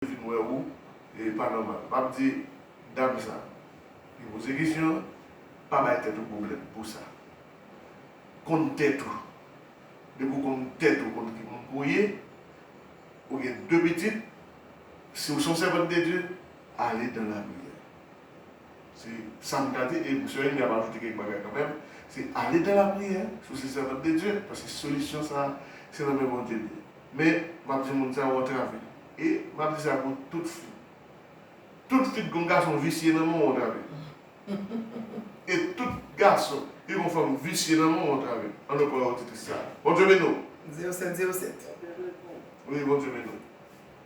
vin wè ou e pa nòmal. Map di dam sa ki poze kesyon an, pa bay tèt ou pwoblèm pou sa. Konn tèt ou. Depi ou konn tèt ou konn ki moun pou ye, ou gen 2 pitit, si ou son sèvant de Dye, ale dan la priyè. Se sa m ka di e sè Amy ap ajoute kèk bagay kanmenm, se ale dan la priyè si ou se sèvant de Dye paske solisyon sa se nan men Bondye li ye. Men, m ap di moun sa yo antrave. E, m ap di sa pou tout fi. Tout fi ki gen yon gason visye nan men w antrave. E tout gason ki gen yon fanm visye nan men w antrave. An nou pran oditris sa a. Bondye beni w. Dieu seul, Dieu seul. Wi, Bondye beni w.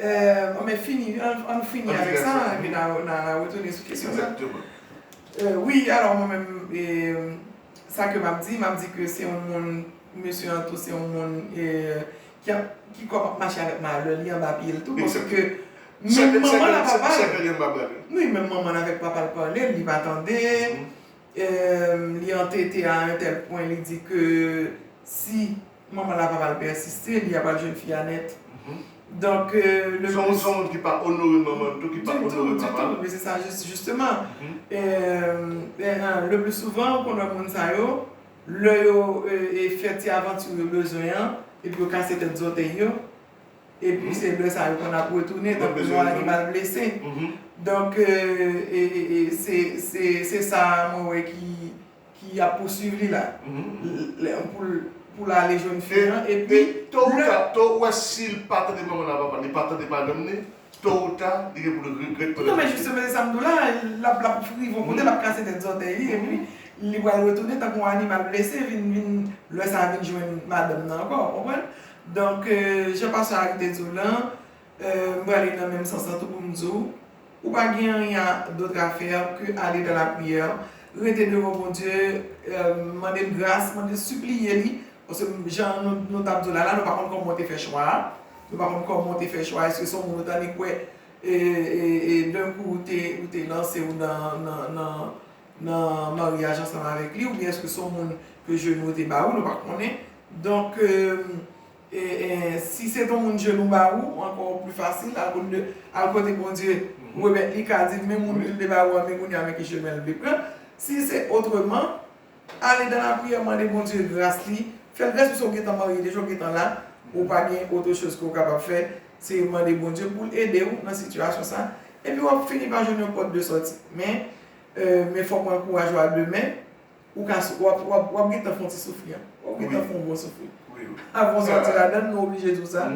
An men fini, an nou fini avèk sa, epi n a retounen sou kesyon sa. Wi, alò mwen menm, sa ke m ap di, m ap di ke se yon moun, mesye Anto se yon moun ki kòm ap mache avèk malè li anba pye l tou, paske menm manman l ak papa l, wi menm manman l avèk papa l pale, li pa tande, li antete a un tel pwen li di ke si manman la pa pral pèsiste li apral jwenn fi a nèt donk le plus. Son moun ki pa onore manman l tou ki pa onore papa l. Ditou ditou se sa jisteman le plus souvan ou konn wè moun sa yo lè yo fè ti avanti yo bezwen an epi yo kase tèt zòtèy yo. Epi se lè sa yo konn ap retounen tankou yon animal blese. Donk se sa mwen wè ki ap pousuiv li la. Pou l ale jwenn fi an epi. To ou ta, to ou wè si l pa tande manman l a papa l, li pa tande madanm li, to ou ta li gen pou l regrèt pèt. Non men jisteman se sa m di w la, l ap rive yon kote l ap kase tèt zòtèy li epi li pral retounen tankou yon animal blese vin, lè sa a vin jwenn madanm nan ankò, w konprann? Donk, jan pastè Harry te di w lan, m prale nan menm sans lan tou pou m di w, ou pa gen anyen dotr a fè ke ale dan la priyè, rete devan Bondye, mande l gras, mande, sipliye li, paske jan nou t ap di w la la, nou pa konn kòman w te fè chwa a, nou pa konn kòman w te fè chwa a, èske se yon moun ou t annik kwè e d'un coup ou te ou te lanse w nan maryaj ansanm avèk li, oubyen èske se yon moun ke jenou te ba ou, nou pa konnen. Donk si se ton moun jenou ba ou ankò ou pli fasil al kote Bondye remèt li ka dil men moun kel te ba ou an men kounya men ki chemen li vle pran si se otreman ale dan la priyè mande Bondye gras li fèl vèsi se ou gentan marye deja ou gentan la ou pa gen otre choz ke ou kapab fè se mande Bondye poul ede ou nan sitiyasyon sa epi wap fini pa jwenn yon pòt de sòti men fòk ou ankouraje a demen Ou ka sou, wap, wap, wap gentan fon ti soufri an. Wap gentan fon bon soufri. Avan ou sòti ladann, nou oblije di w sa.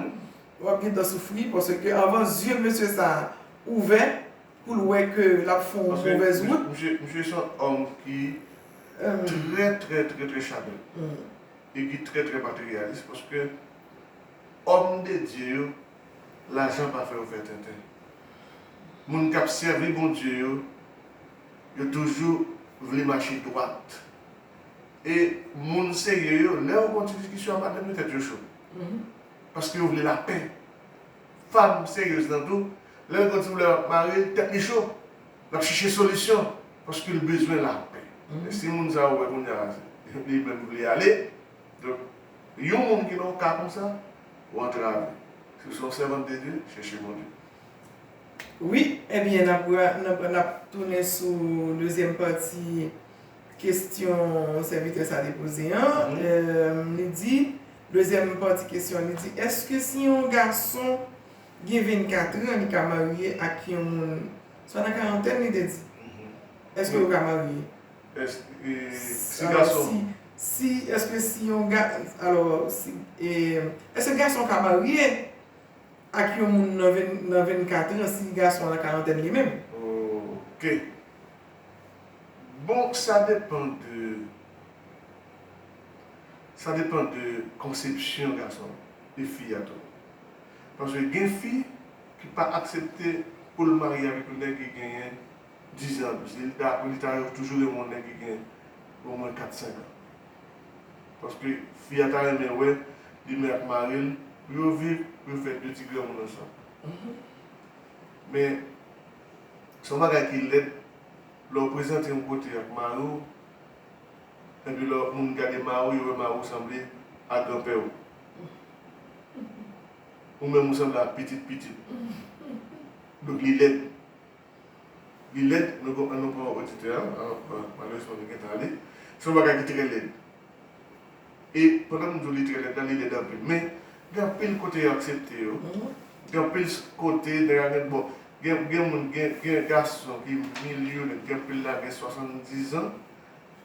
Wap gentan soufri paske avan zye mesye sa ouvè pou l wè ke l ap fon movèz wout. Paske misye se yon òm ki trè trè trè trè chanèl. E ki trè trè materyalis paske òm de Dye yo lajan pa fè yo fè tenten. Moun k ap sèvi Bondye yo. Yo toujou vle mache dwat. E moun serye yo, lè yo gen yon ti diskisyon ap madanm yo tèt yo cho. Paske yo vle lapè. Fanm seryez lan tou, lè l gen yon ti pwoblèm ak mari l, tèt li cho. L ap chèche solisyon paske l bezwen lapè. Men si moun sa ou wè kounya li menm vle ale, donk yon moun ki nan yon ka konsa, ou antrave. Si w se yon sèvant de Dye, chèche Bondye. Wi ebyen nap pran nap tounen sou dezyèm pati kesyon sèvitè sa te poze an li di dezyèm pati kesyon li di èske si yon gason gen 24 an li ka marye ak yon moun swa nan karantèn li te di èske yo ka marye si èske si yon gason èske gason ka marye ak yon moun nan nan 24 ans si gason la karantèn li menm. Ok bon sa depan de sa depan de konsepsyon gason e fi a tou paske gen fi ki pa aksepte poul marye avèk yon nèg ki genyen 10 ans anplis li ta li ta toujou renmen yon nèg ki gen omwen 4 5 ans. Paske fi a ta renmen wè li menm ak mari l pou yo viv, pou yo fè 2 ti granmoun ansanm. Men, se yon bagay ki lèd lè w prezante yon kote ak mari w, epi lè moun gade mari w, yo wè mari w sanble a granpè w. Ou menm ou sanble a pitit pitit. Donk li lèd. Li lèd, nou pran nou pran oditè an, malerezman nou gentan ale. Se yon bagay ki trè lèd. E pandan m di w li trè lèd la, li lèd anpil. Men, gen anpil kote yo aksepte yo. Gen anpil kote nèg a gen bon, gen moun, gen gason ki milyonè, ki gen anpil lajan, gen 70 zan,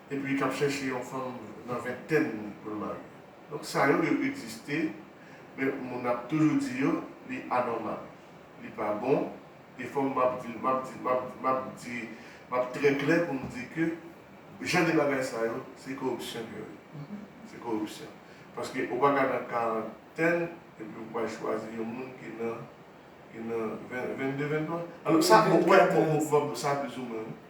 epi k ap chèche yon fanm nan ventèn li pou l marye. Donk sa yo, yo egziste, men moun ap toujou di yo li anòmal. Li pa bon. E fòm map di, map di, map di, map di, map trè klè pou m di ke jan de bagay sa yo se koripsyon ke yo ye. Se koripsyon. Paske ou paka nan karantèn epi ou pral chwazi yon moun ki nan, ki nan 22, 23? Alò sa, mwen kwè, mwen kwè sa plizoumwen wi.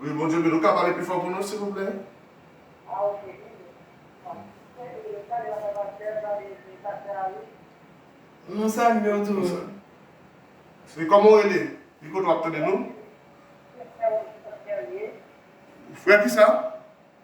Wi bondye beni ou ka pale pifò pou nou silvouplè. Nou salye w tou. Sweet koman ou rele? Ki kote wap tande nou? Frè kisa?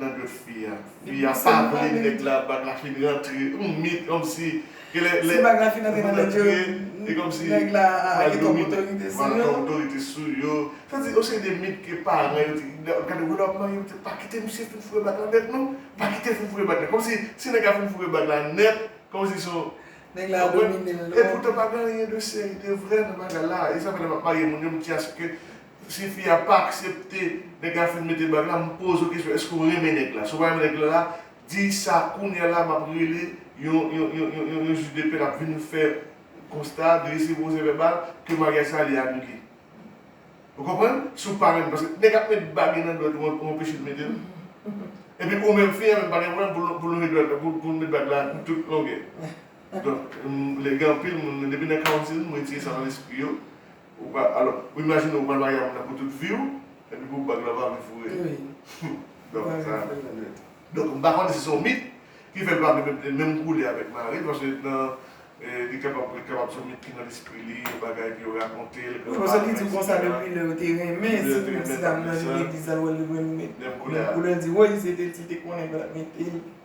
nan dwet fi a. Fi a pa vle nèg la bag la fin rantre humm mi kòmsi gen lè lè bag la fin rantre nan dwet yo li kòmsi nèg la gen twòp otorite sou yo gen twòp otorite sou yo sa di yon seri de mit ke paran yo te gade wè lè wap marye misye pa kite misye fin foure bag la nèt non pa kite fin foure bag la kòmsi si nèg la fin foure bag la nèt kòmsi son nèg la domine l e poutan pa gen anyen de seri de vrè nan bagay la e sa fè lè map marye moun yo m chase ke Si fi a pa aksepte nèg la fin mete bag la m poze w kesyon eske w renmen nèg la si w pa renmen nèg la la di sa kounya la map rele yon yon yon yon jij de pè lap vin fè konsta drese pwosè vèbal ke maryaj sa li anile ou konprann si w pa renmen paske nèg ap met bagy nan dwèt ou ou anpeche l mete l epi ou menm fi a menm pa gen pwoblèm pou l lonje dwèt pou l met bag la tout longè donk m lè gen anpil moun depi nan karantin m retire sa nan lespri yo. Ou pa, alò, ou imajine ou pral marye ak moun nan pou tout vi ou, epi pou bag la ou pa vle foure l. Wi. Donk, sa a menm. Donk, m pa konnen si se yon mit ki fè l pa vle mete menm koulè avèk mari l, paske nan, li kapab, li kapab se yon mit ki nan lespri li, yon bagay ke yo rakonte l, grann pa l, etsetera. Wi, paske li di konsa depi lè yo te renmen, si ti dam nan vin legliz la, l wè l gen menm koulè a. Menm koulè a. Li di, woy, se te ti te konnen l pa t mete l.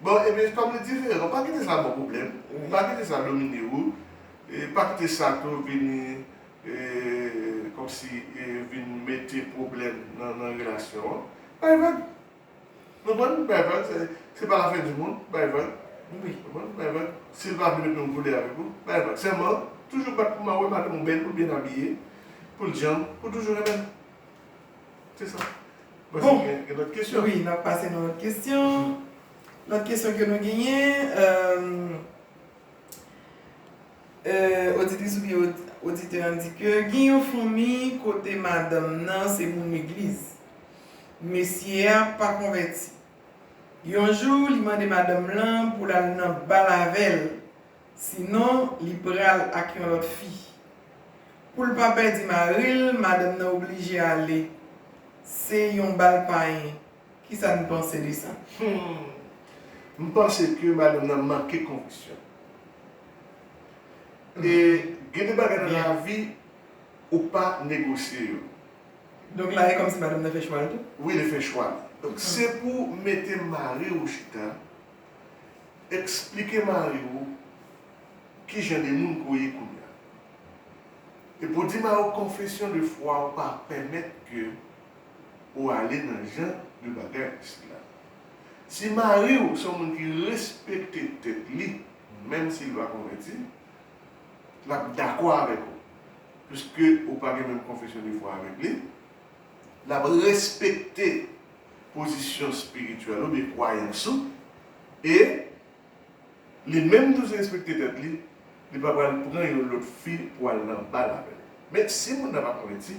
Bon ebyen kòm li diferan pa kite sa baw pwoblèm, pa kite sa domine ou, pa kite sa tou vini kòmsi vin mete pwoblèm nan relasyon an, bay vag ou konprann, bay vag se pa la fen di mond, bay vag ou konprann, bay vag sil pa vle mete yon koulè avèk ou, bay vag sèlman toujou bat pou mawe madanm ou bèl ou byen abiye poul janm ou toujou renmenl. Se sa. Bon. Gen lòt kesyon. Wi, n ap pase nan lòt kesyon. Lòt kesyon ke nou genyen. Oditris oubyen oditè an di ke gen yon fanmi kote madanm nan se moun legliz. Mesye a pa konvèti. Yon jou li mande madanm lan pou l al nan bal avè l Sinon li pral ak yon lòt fi. Pou l pa pèdi mari l, madanm nan oblije ale. Se yon bal payen. Kisa n panse de sa? Humm m panse ke madanm nan manke konviksyon e gen de bagay nan lavi ou pa negosye yo. Donk la e kòmsi madanm nan fè chwa l tou? Wi li fè chwa l. Donk se pou mete mari ou chita. Eksplike mari ou ki jan de moun ke w ye kounye a. Epi w di mari w konfesyon de fwa w pa pèmèt ke ou ale nan jan de bagay sila. Si mari w se yon moun ki respekte tèt li, menm si l pa konvèti, l ap dakò avèk ou, piske ou pa gen menm konfesyon de fwa avèk li, l ap respekte pozisyon spirityèl oubyen kwayans ou e li menm tou derespekte tèt li, li pa pral pran yon lòt fi pou al nan bal avè l. Men, si moun nan pa konvèti,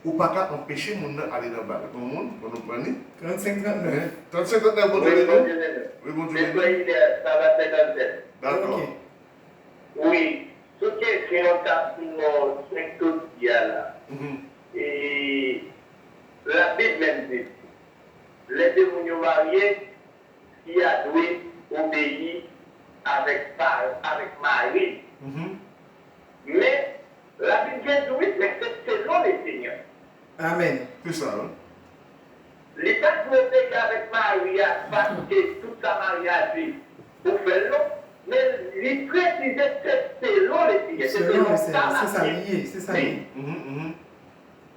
ou pa ka anpeche moun nan ale nan bal. Gon moun? Fò nou pran li. 35 39. 35 39 Bondye beni w. Wi Bondye beni w. Wi Bondye beni w. Sa va 57. Dakò. Ok. Wi. Sou kesyon tap di non 5 to di a la. E Labib menm di n, lè de moun yo marye, fi a dwe obeyi avèk mari l. Men, Labib byen di, wi, men se selon Lesenyè. Amèn. Se sa wi. Li pa di obeyi avèk mari a paske tout sa mari a di ou fè l non, men li presize se selon Lesenyè, se selon sa Labib di.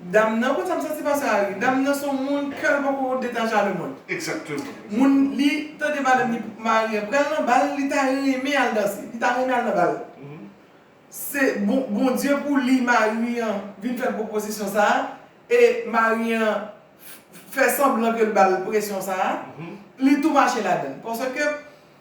Dam nan konn sa m santi pa sa ui. Dam nan son moun kèl poko detache a le mond. Exactement. Moun li tande madanm li mari an pral nan bal li ta renmen al danse. Li ta renmen al nan bal. Se bon Bondye pou li mari an vin fè l pwopozisyon sa a e mari an fè sanblan ke l ba l presyon sa a. Li tou mache ladan l. Paske.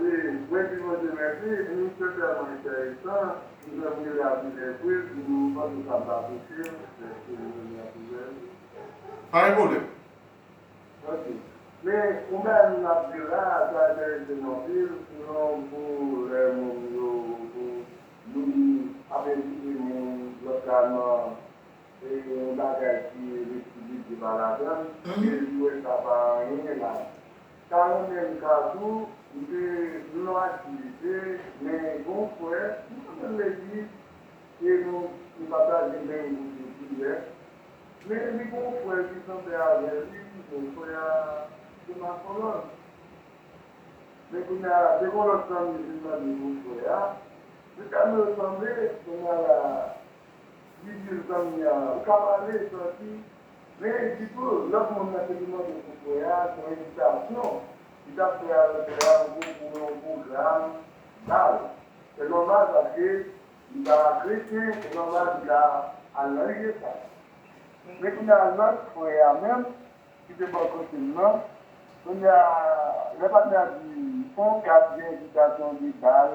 E mwen di Bondye mèsi wi se tèlman enteresan m fèm rele anpil anpil m di m panse sa m pa touche m dèske m rele anpil anpil. Pa gen pwoblèm. Ok men yon bagay m ap di la a sa enterese m anpil sinon pou lè moun yo pou li ap envite moun lòt la nan e yon bagay ki li di Bibye pa ladann e li wè sa pa anyen la Ta renmenm ka tou m te mwatye e men gon frè nou pa menm legliz e nou nou pataje menm gou de koulè men li gon frè ki sanble avè li bon frè a se masolòj men kounya la se gon lòt zanmi vin mande pou frè a se sa nou yo sanble kounya la. Didye zanmi a ou ka pale santi men di tou lòt moun nan te vin mande pou frè a yon envitasyon li tap fè avèk frè a ou byen pou yon pwogram bal se nòmal paske li pa kretyen se nòmal li ka al nan lye sa men kounya lòt frè a menm ki te bò kote m nan kounya lè patnè a di on kat gen envitasyon de bal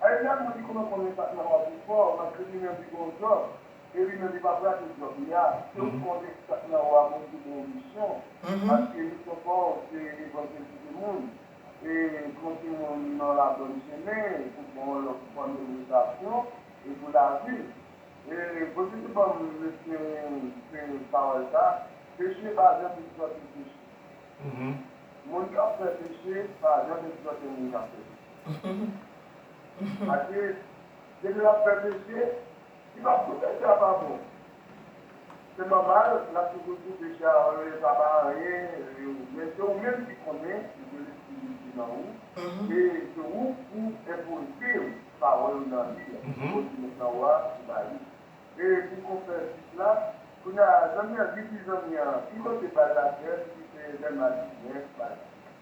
Ayy dat mwen t konn konnen sak nan wazoo fò malgré li menm li gon job e li menm li pap rate job li a se ou t konnen ki sak nan wa mwen te gen emisyon paske emisyon paw se evanjeltize moun e pran ti moun nan la bòn chemen pou pran yon lòt fòm edikasyon e pou lavi e bondye te banm lesperyen se pawòl sa peche pa janm egzòte peche moun kap fè peche pa janm egzòte moun kap fè peche. Ade depi lap fè peche li pap tou peche a pa bon se manmanl lap toujou di peche a ooh sa pa anyen ooh men se ou menm ki konnen ou gen lespri Bondye nan ou e se ou pou enpoze yo pawòl m nan li a bon di nèg nan ou a ou ba li e pou konsèy plis la kounya zanmi an di di zanmi an ki kote bal la fèt si se lè matin men bal la.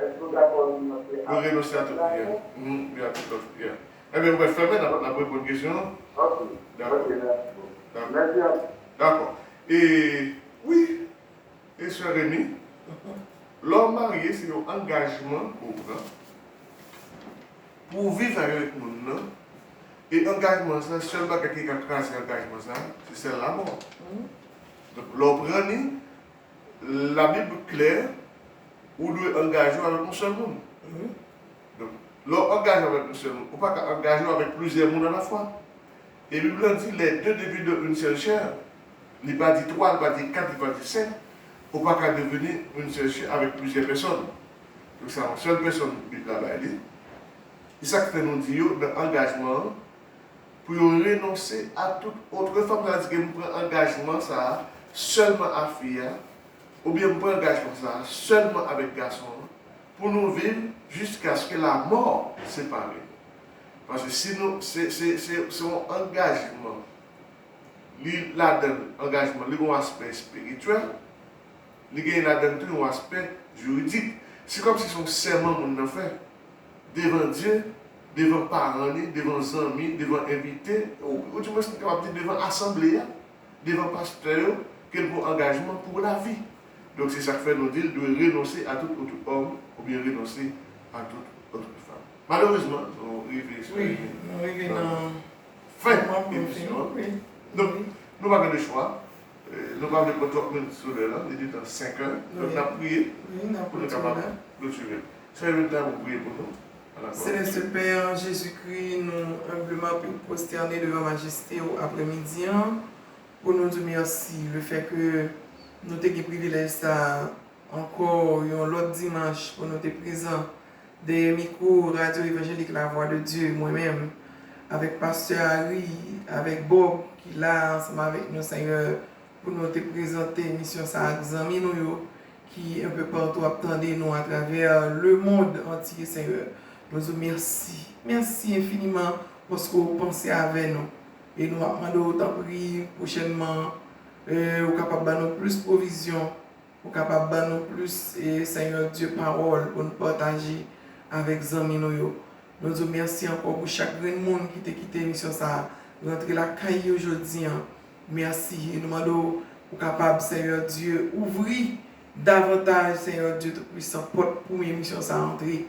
Eske ou dakò renonse a tout lòt priyè? Humm wi a tout lòt priyè. Enben ou mwen fèmen nap nap reponn kesyon an. Ok ok merci beaucoup. Merci anpil. Dakò e wi e sè Remy lè ou marye se yon angajman ou pran pou ou viv avèk moun nan e angajman sa sèl bagay ki ka kraze angajman sa se sèl lamò. Donk lè ou pran li Labib klè, ou dwe angaje w avèk yon sèl moun. Donk, lè w angaje w avèk yon sèl moun, ou pa ka angaje w avèk plizyè moun alafwa. E Bib lan di, Les deux deviendront une seule chair. Li pa di twa, li pa di kat, li pa di senk. Ou pa ka deveni une seule chair avèk plizyè pèsòn. Donk, se yon sèl pèsòn Bib la bay li. E sa k fè nou di yo nan angajman an? pou yo renonse a tout otre fanm sa di ke m pran angajman sa a sèlman a fi a oubyen m pran angajman sa a sèlman avèk gason an pou nou viv jiskaske lamò separe nou paske si nou se se se se yon angajman li ladan l angajman li gen yon aspè espirityèl li genyen ladan l tou yon aspè jiridik se kòmsi se yon sèman moun nan fè devan Dye devan paran li, devan zanmi, devan envite, ou di mwens m kapab di devan asanble a, devan pastè yo, ke l pran angajman pou lavi. Donk se sa k fè nou di l dwe renonse a tout otre homme oubyen renonse a tout otre femme. Malerezman, nou rive sou nan fen emisyon an. Donk, nou pa gen lechwa. Nou pa vle pran twòp minit sou lè lan, li detan senkè. Donk n ap priye pou nou kapab klotire. Sè Erlinda, ou priye pou nou. Senyè se Pè an, Jezikri, nou enbleman vin pwostène devan majeste ou aprèmidi an pou nou di ou mèsi lefèke nou te gen privilèj sa a ankò yon lòt dimanch pou nou te prezan dèyè mikwo Radyo Evanjelik Lavwa de Dye mwen menm avèk Pastè Ary avèk Bob ki la a ansanm avèk nou Senyè pou nou te prezante emisyon sa ak zanmi nou yo ki enpe partou ap tande nou atravè le mond antye senyè nou di w mèsi mèsi enfiniman paske ou panse avè nou e nou ap mande w tanpri pwochènman ou kapab ba nou plis pwovizyon Ou kapab ban nou plis Senyè Dye pawòl pou n pataje avèk zanmi nou yo. Nou di w mèsi ankò pou chak grenn moun ki te kite emisyon sa a rantre lakay yo jodi an. Mèsi e nou mande w pou kapab Senyè Dye ouvri davantaj Senyè Dye Toupuisan pòt pou emisyon sa a antre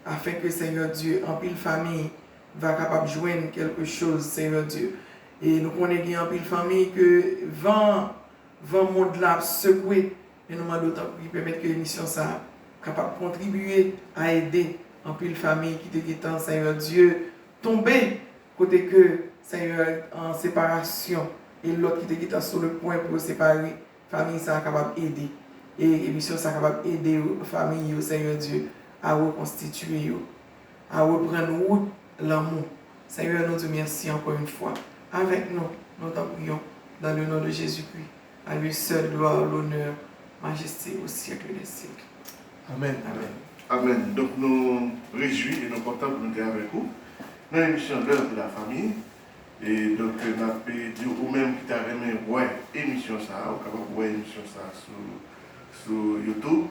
afenke Senyè Dye anpil fanmi va kapab jwenn kèlke choz Senyè Dye. E nou konnen gen anpil fanmi ke van Van mond lan ap sekwe men nou mande w tanpri pèmèt ke emisyon sa kapab kontribiye a ede anpil famiy ki te gentan Senyè Dye tonbe kote ke Senyè an separasyon e lòt ki te gentan sou le pwen pou yo separe famiy sa kapab ede e emisyon sa kapab ede yo famiy yo Senyè Dye a rekonstitiye yo a reprann wout lanmou. Senyè nou diw mèsi ankò yn fwa avèk nou nou t'en prions dans le nom de Jésus Christ à lui seul gloire l'honneur majesté au siècle des siècles amen amen. Amen donk nou rejwi e nou kontan pou nou te avèk ou nan emisyon L'heure de la famille e donk nap diw ou menm ki ta renmen wè emisyon sa ou kapab wè emisyon sa sou sou YouTube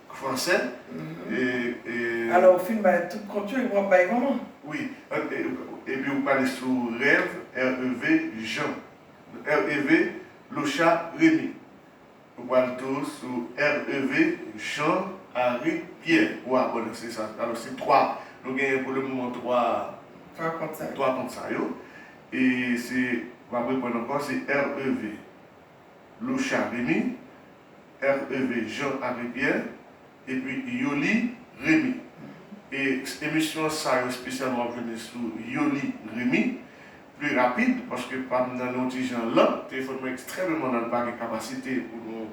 français et. Alors ou fin bay tout kont yo epi wap bay manman. Oui epi ou pale sou rev REV Jean REV Locha Remy ou pral tou sou REV Jean Harry Pierre ou abone se sa alors se 3 nou genyen pou le moman 3 kont sa yo e se map reponn ankò se REV. Loucha Remy, REV Jean André Pierre, epi Yoly Remy. E emisyon sa yo spesyalman wap jwenn li sou Yoly Remy. Pli rapid paske pam nan yon ti jan lan, telefòn mwen ekstrèmeman lan li pa gen kapasite pou nou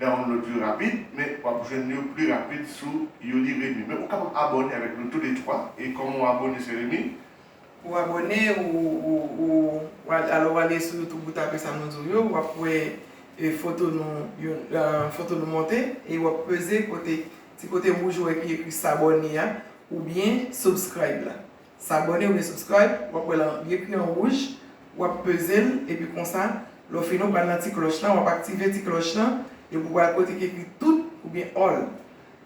download yo rapid, men wap jwenn yo pli rapid sou Yoly Remy. Men ou kapab abòne avèk nou tou le twa, e kòman w abòne sè Remy? Ou abòne ou alò ou ale sou youtube ou tape sa nou diw yo wap wè foto nou yon foto nou monte e wap peze kote ti kote wouj ou wè ki ekri sabòne a oubyen subscribe la sabòne oubyen subscribe wap wè lan li ekri an wouj wap pezel epi konsa lè w fini w pral nan ti klòch lan wap aktive ti klòch lan epi w pral kote ki ekri tout oubyen all.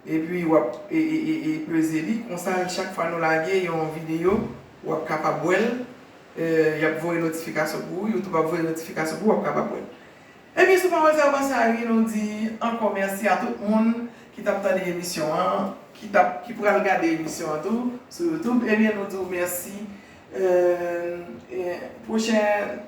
Epi wap peze li konsa chak fwa nou lage yon video wap kapab wèl yap voye notifikasyon pou ou youtube ap voye notifikasyon pou ou wap kapab wèl ebyen si ou pa wèl sa ou pase a ri nou di ankò mèsi a tout moun ki tap tande emisyon an ki tap ki pral gade emisyon an tou sou youtube ebyen nou di ou mèsi pwochen.